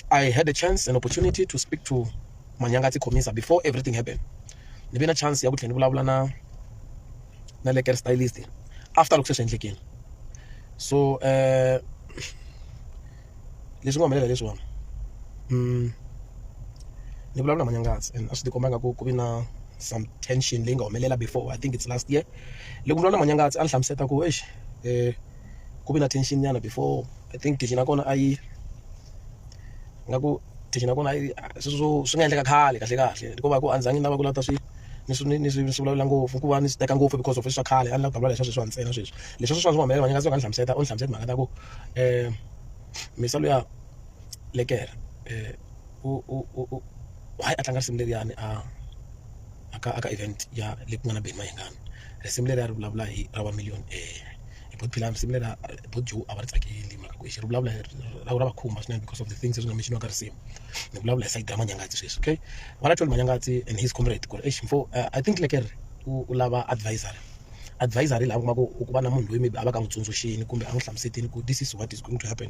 I had a chance, an opportunity to speak to Manyangati Komisa before everything happened. Ni ve na chance ya ku tlhela ni vulavula na na le care stylist after loko se swi endlekile. So eh leswi nga humelela leswiwani mm ni vulavula na Manyangati and a swi tikomba nga ku ku vi na some tension leyi nga humelela before I think it's last year. Loko ni vulavula na Manyangati a ni hlamusela ku exi eh. ku ve na tension nyana before i think tension ya kona a yi nga ku tension ya kona a yi sweswo swo swi nga endleka khale kahle kahle ko va ku a ni zangi ni lava ku lava ta swi ni swi ni swi ni swi vulavula ngopfu ku va ni swi teka ngopfu because of swa khale a ni lava ku vulavula hi swa sweswiwa ntsena sweswi leswi swa swa swi humelela ni nga se va ni hlamusela u ni hlamusela timhaka ta ku um misa luya lekere um u u u u hayi a tlanga risimu leriyani a. a ka a ka event ya leyi ku nga na Benny Mayengani risimu leri a ri vulavula hi ra va million hi ku phela risimu leri vo Joe a va ri tsakeli mhaka ku i xi ri vulavula hi ra va khumba swinene because of the things leswi nga mixiniwa ka risimu ni vulavula hi sayiti ra Manyangatsi sweswi okay va nga tholi Manyangatsi and his comrade ku ri exi mfo I think like ri u lava advisor advisor hi laha u kuma ku ku va na munhu loyi maybe a va ka a n'wi tsundzuxile kumbe a n'wi hlamuselile ku this is what is going to happen.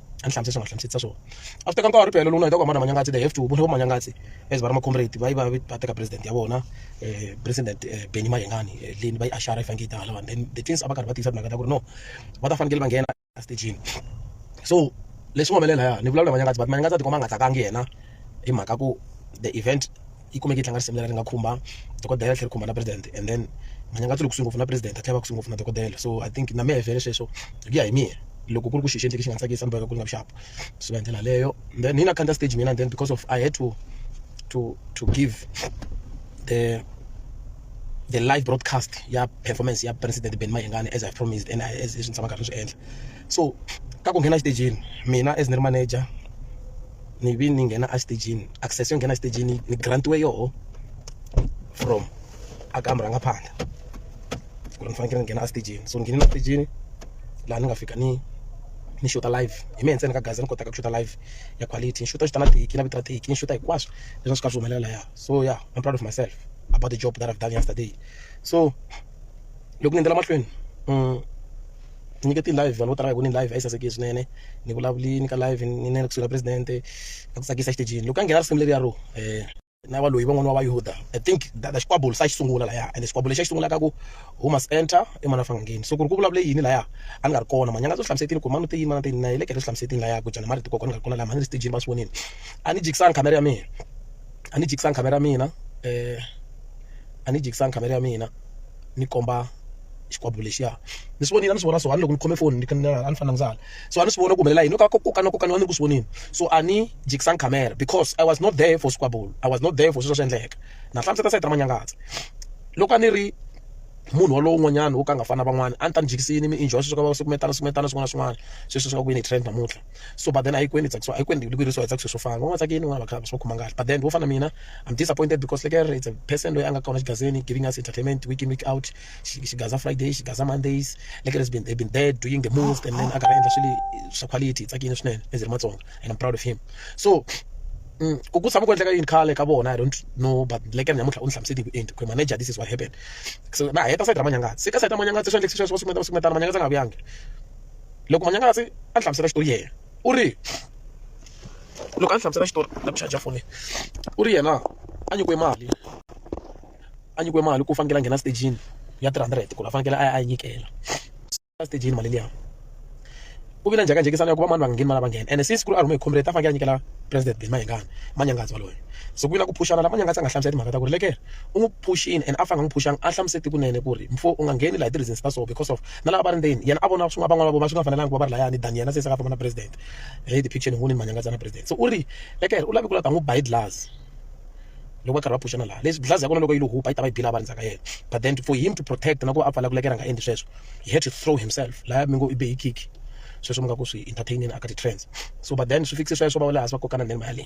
a ni hlamusela swi nga hlamuselisa swona a swi teka nkarhi phela lona hi ta ku hambana manyangatsi they have to vona manyangatsi as va ri macomrade va yi va va teka president ya vona um president eh, benny mayengani eh, leni va yi ashara yi fanekele yi ta halawani then the things a va karhi va tiyisa timhaka ta ku ri no va ta fanekele va nghena estageni so leswi humelela ya ni vulavula manyangatsi but manyangatsi a tikoma a nga tsakangi yena hi mhaka ku the event yi kumeke yi tlanga risimu leri nga khumba dokodela ri tlhela ri khumba na president and then Manyangadzwa u le kusuhi ngopfu na president a tlhela a va kusuhi ngopfu na dokodela so I think na mehe vhele sweswo hi ku ya hi mina loko ku ri ku xilo xi endleke xi nga tsakisa ni boheka ku ri nga vuxapu swi va hi ndlela leyo then hi na khandziya stage mina then because of I had to to to give the the live broadcast ya performance ya president Benny Mayengani as I promised and as leswi ni tshamaka ni swi endla. so ka ku nghena exitejini mina as ni ri manager ni vi ni nghena exitejini access yo nghena exitejini ni grant-iwe yoho from a ka murhangaphandla ku ri ni fanekele ni nghena exitejini so ni nghenile exitejini laha ni nga fika ni ni xuta live hi mehe ntsena ka gaza ni kotaka ku xuta live ya quality ni xuta xuta na tihiki na vito ra tihiki ni xuta hinkwaswo leswi a swi karhi swi humelela lahaya so ya I'm proud of myself about the job that I've done yesterday so loko ni endzela mahlweni ni nyike ti-live vanhu vo tala va hi vone live a yi sasekile swinene ni vulavule ni ka live ni na le kusuhi na presidente na ku tsakisa exitejini loko a nghena risimu leriya ro na valoyi van'wani va vayuda i think that xikwembu se a xi sungula laya ende xikwembu lexi a xi sungulaka ku who must enter i mhani a fanga a ngheni so ku ri ku vulavule yini laya a ni nga ri kona mhanyanga swi hlamusetini ku mhani u te yini mhani a te yini na ye le kereke swi hlamusetini laya ku jana marito kokwana ni nga ri kona laya mhani ni ri xitejini va swi vonile a ni jikisanga khamera ya mina a ni jikisanga khamera ya mina . a ni yi jikisanga khamera ya mina ni komba xikwembu lexiya ni swi vonile a ni swi vona so a ni loko ni khome foni ni kha ni a ni fanele ni hala so a ni swi vona ku humelela yini ka kokwana kokwana a ni ri ku swi voneni so a ni jikisanga khamera because I was not there for squabble I was not there for sweswo swi endleka na hlamusela sayiti ra manyangazi loko a ni ri munhu walowo un'wanyana wo ka a nga fani na van'wana a ni ta ni jikisile ni mi enjoy sweswo ka va sukumetana sukumetana swin'wana na swin'wana sweswi swi nga ku veni hi trend namuntlha. so but then a yi kweni tsakisiwa a yi kweni vuyerisiwa hi tsakisa swo fana van'wana va tsakile van'wana va kha va swi va khoma kahle but then vo fana na mina I'm disappointed because like a it's a person loyi a nga kona xigazeni giving us entertainment week in week out xigaza Friday xigaza Mondays like has been they've been there doing the most and then a karhi a endla swilo swa quality hi tsakile swinene as hi ri Matsonga and I'm proud of him so Mm. ku ku tshama ku endleka yini khale ka vona i don't know but like namuntlha u ni hlamuseti hi vuenti ku manager this is what happened so na heta side ra manyangatsi se ka side ra manyangatsi swi endlekise sweswo va sukumeta va sukumetana manyangatsi a nga vuyangi loko Manyangasi a hlamusela xitori yena u ri loko a hlamusela xitori na ku charger foni u ri yena a nyikiwe mali a nyikiwe mali ku fanekele a nghena stejini ya three hundred ku ri a fanekele a ya a yi nyikela stejini mali liya ku vi na njhekanjhekisano ya ku va mani va nga ngheni mali va nghena ene since ku ri a rhume hi comrade a fanekele a nyikela president Benny Mayengani Manyangadzi waloye se ku vi na ku phuxana la Manyangadzi a nga hlamusela timhaka ta ku ri lekere u n'wi phuxini and a fanele a n'wi phuxanga a hlamuseti kunene ku ri mfo u nga ngheni laha ti-reasons ta so because of na lava va ri ndzeni yena a vona swin'wana van'wana va vona swi nga fanelanga ku va va ri layani ni daniela se se ka famba na president hi ti picture ni voni ni manyangatsa na president so u ri eka yena u lave ku la ta n'wi ba hi glass loko va karhi va phuxana laha leswi glass ya kona loko yi lo hupa yi ta va yi bila va ri ndzhaka yena but then for him to protect na ku va a pfala ku lekera nga endli sweswo he had to throw himself laya mi ngo i be hi kick sweswo mi nga ku swi entertaineni aka ti-trends so but then swi fikise sweswo va wela hansi va kokana nene mali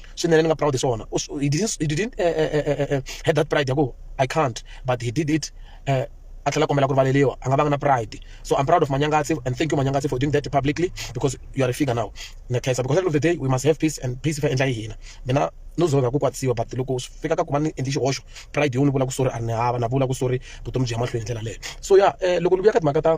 swinene ni nga proud hi swona he didn't, he didn't uh, uh, uh, had that pride ya ku i can't but he did it uh, a tlhela kombela ku rivaleriwa a nga vanga na pride so i'm proud of manyangatsi and thank you manyangatsi for doing that publicly because you are a figure now na khensa because at the end of the day we must have peace and peace fa endla yi hina mina no zoveka ku kwatsiwa but loko swi fika ka ku va ni endli xihoxo pride yo ni vula ku sorry a ni hava na vula ku sorry vutomi byi ya mahlweni ndlela leyo so ya um loko ni vuya ka timhaka ta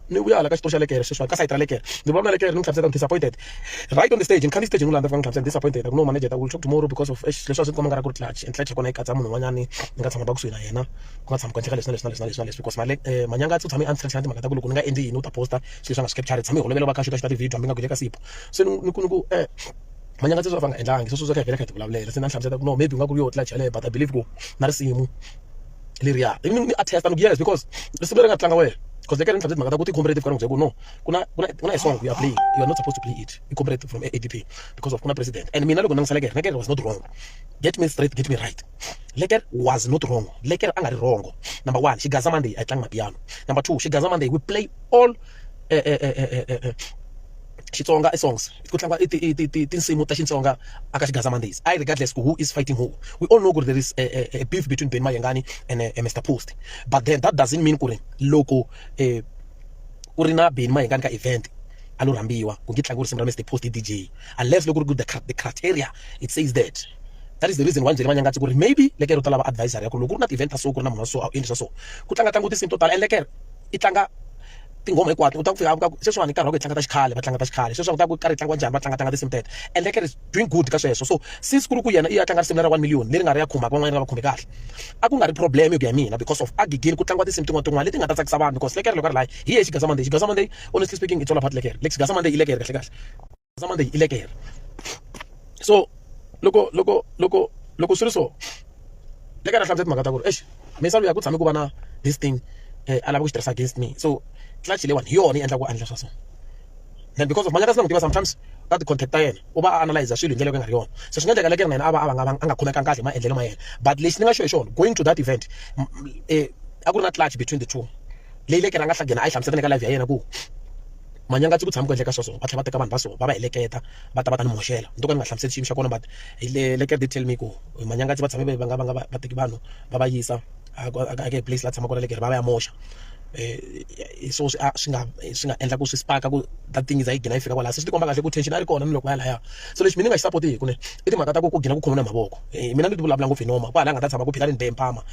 ni vuya hala ka xitori xa le kereke sweswiwani ka sayiti ra le kereke ndzi vulavula le kereke ni n'wi hlamusela ni disappointed right on the stage ni khandziya stage ni n'wi landza ni fika ni hlamusela ni disappointed a ku no manager ta ku talk tomorrow because of eish leswi a swi ni komba nga ri ku ri clutch and clutch ya kona yi katsa munhu un'wanyani ni nga tshama va kusuhi na yena ku nga tshami ku endleka leswi na leswi na leswi na leswi na leswi because male manyanga u tshame a ni tlherisa na timhaka ta ku loko ni nga endli yini u ta posta swilo swa nga swi capture tshame hi holovela va kha xuta xuta ti-video hambi nga ku le ka sipo se ni ku ni ku um manyanga sweswi a va nga endlangi sweswo swo kha hi vhela kha hi ti vulavulela se na ni hlamusela ku no maybe u nga ku ri yo clutch yaleyo but i believe ku na risimu leriya i mi a testa ni yes because risimu leri nga tlanga wena because eka ni tlhandle timhaka ta ku ti comparative ka ni ku no ku na ku na ku na a song ya play you are not supposed to play it i comparative from ADP because of ku na president and mina loko ni ngisela kereke was not wrong get me straight get me right Lekker was not wrong. Lekker angari wrong. Number one, she Gaza Monday, I tlanga piano. Number two, she Gaza Monday, we play all uh, uh, uh, Xitsonga i songs ku tlangiwa i ti i ti ti tinsimu ta Xitsonga aka xigandzamandizi I regardless ku who is fighting who we all know ku ri there is a beef between Benny Mayengani and Mister Post but then that doesn't mean ku ri loko ku ri na Benny Mayengani ka event a lo rhambiwa ku nge tlangiwa risimu ra Mister Post hi D_J unless loko ku ri ku the the criteria it says that that is the reason why ni byele Manyangatse ku ri maybe le ka ro ta lava advisor ya ku loko ku ri na ti-event ta so ku ri na munhu wa so a wu endli swa so ku tlanga tlangiwa tinsimu to tala and le ka i tlanga. tinghoma hinkwato u ta ku fika ku sweswiwani hi nkarhi wa ku hi tlanga ta xikhale va tlanga ta xikhale sweswi a ku ta ku karhi hi tlangiwa njhani va tlanga tlanga tinsimu teto and like is doing good ka sweswo so since ku ri ku yena i ya tlanga risimu ra one million leri nga ri ya khumaka van'wana nga va khumbi kahle a ku nga ri problem hi ku ya mina because of a gigini ku tlangiwa tinsimu tin'wana tin'wana leti nga ta tsakisa vanhu because lekere loko a ri layi hi ye xigaza monday xigaza monday honestly speaking it's all about lekere xigaza monday i lekere kahle kahle zama leyi i lekere so loko loko loko loko swi ri so le ka na hlamusela timhaka ta ku ri exi misava ya ku tshame ku va na this thing eh, a lava ku xi tirhisa against me so clutch leyiwani hi yona yi endla ku a endla swa so and because of manyaka sina n'wi tiva sometimes ka ti-contact ta yena u va a analyze swilo hi ndlela yo ka nga ri yona so swi nga endleka lekere na yena a va a va nga a nga khomekanga kahle hi maendlelo ma yena but lexi ni nga xo hi xona going to that event eh, a ku ri na clutch between the two leyi lekere a nga hlagena a yi hlamusela ni ka live ya yena ku Manyanga ku tshama ku endleka sweswo va tlhela va teka vanhu va so va va heleketa va ta va ta ni moxela ni to ka ni nga hlamuseli xiyimo xa kona but hi le le Kruger tell me ku Manyanga va tshame va nga va nga va teki vanhu va va yisa a ku a ka place la tshama kona le karhi va va ya moxa hi swona swi a swi nga swi nga endla ku swi spark ku that thing yi za yi gina yi fika kwala se swi tikomba kahle ku tension a yi ri kona ni loko ya lahaya so lexi mina ni nga xi support-iki kunene i timhaka ta ku ku gina ku khomiwa na hi mavoko mina ni ti vulavula ngopfu hi nomu kwala a nga ta tshama ku phika ni ni be hi mpama.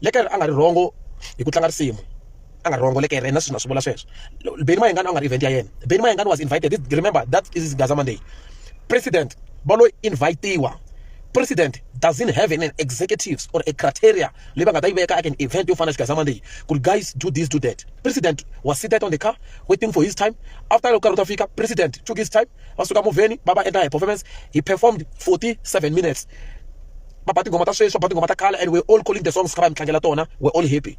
Lekere a nga ri wrong hi ku tlanga risimu a nga wrong lekere na sweswi na swi vula sweswo Benny Mayengani a nga ri event ya yena Benny Mayengani was invited remember that is Gaza Monday president va lo invitiwa president doesn't have an executives or a criteria leyi va nga ta yi veka aka an event yo fana na Gaza Monday ku ri guys do this do that president was seated on the car waiting for his time after loko karhi u ta fika president took his time va suka movheni va va endla hi performance he performed 47 minutes va ba tinghoma ta sweswi va ba tinghoma ta khale and we're all calling the songs hi kha hi mi tlangela tona we're all happy.